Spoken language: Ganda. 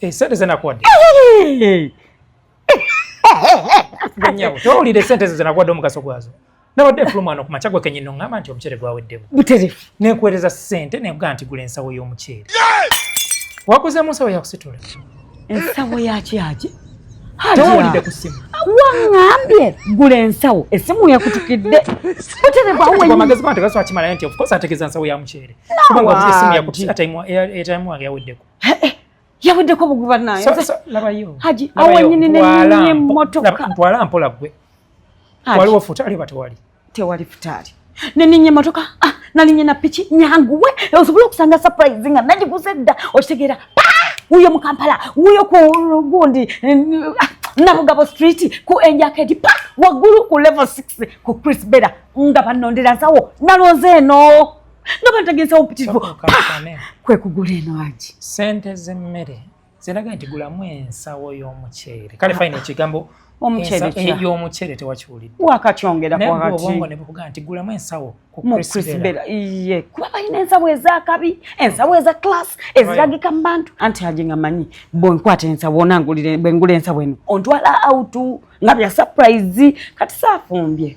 Eh, sente zenakuwadde nyabo towulira esente ezo zenakuwadde omugaso gwazo nabadde nfulumwana ku makya gwe kenyini oŋŋamba nti omuceere gwaweddemu buterefu nekuweereza sente nekugaa nti gula ensawo y'omuceere waguzeemu ensawo yakusitula ensawo yakyaki towulidde ku simu waŋambye gula ensawo esimu yakutukidde buterefu amagezi gano tegaswakimalayo nti ofcourse ategeeza nsawo ya muceere kubanga obuze esimu yakutuse kata etaimu wange yaweddeko eh, eh, yaweddeko buguba naye labayo haji awanyini nenye motoka ntwala mpola gwe waliwo futali oba tewali tewali futali neninye motoka ah, nalinye na piki nyanguwe osobola okusanga surprise nga nagiguze dda okitegeera wuyo mu kampala wuyo ku gundi ah, nabugabo street ku enjakedi pa waggulu ku level 6 ku chris bera nga banondera nsawo nalonze eno nga bantagenzawo mpitirivu kwekugula eno agi sente z'emmere ziraga nti gulamu ensawo y'omuceere kale fayina ekigambo omuceerey'omuceere eh, tewakiwulidde wakatyongerakobwongo ne bukuga nti gulamu ensawo kukrisbera iye kuba balina ensawo ezakabi ensawo eza class eziragika mu bantu anti aje nga manyi bwenkwata ensawo onangulire bwengula ensawo eno ontwala autu nga bya surprise kati saafumbye